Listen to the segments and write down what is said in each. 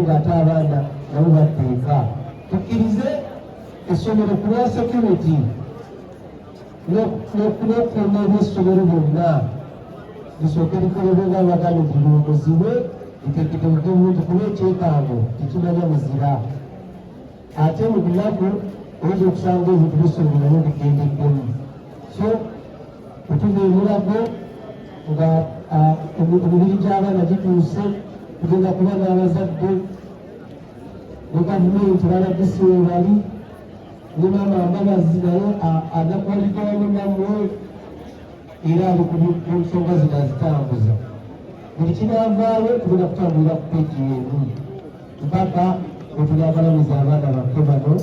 ng'ate abaana nabo baddeeka tukkirize essomero ku lwa security n'okukuuma ebyessomero byonna lisooke likolebwe nga abagana nti luwumuzibwe litegekebuke bulungi kuba ekyekango tekimanya muzira ate mu bulago oyinza okusanga ebintu bisongonayo bigendeddemu so okuva ebulago nga emibiri gy'abaana gituuse kugenda kuba n'abazadde ne gavumenti balagisi webali ne maama mbabazi naye anakuwaligawamu namwe era ali ku nsonga zino azitambuza buli kinavaayo tugenda kutambulira ku peji emu mpaka wetuli abalamiza abaana baffe bano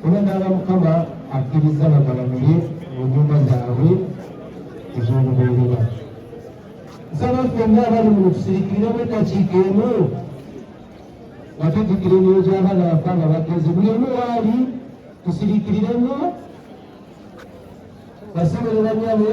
era naaba mukama akkiriza bagalamire mu nyumba zaabwe ez'olubeerera nsaba ffenna abali mu tusirikiremu eddakiika emu nga tujjukira emyoyo gy'abaana baffe nga bagenze buli omu waali tusirikiriremu basobolera nyabo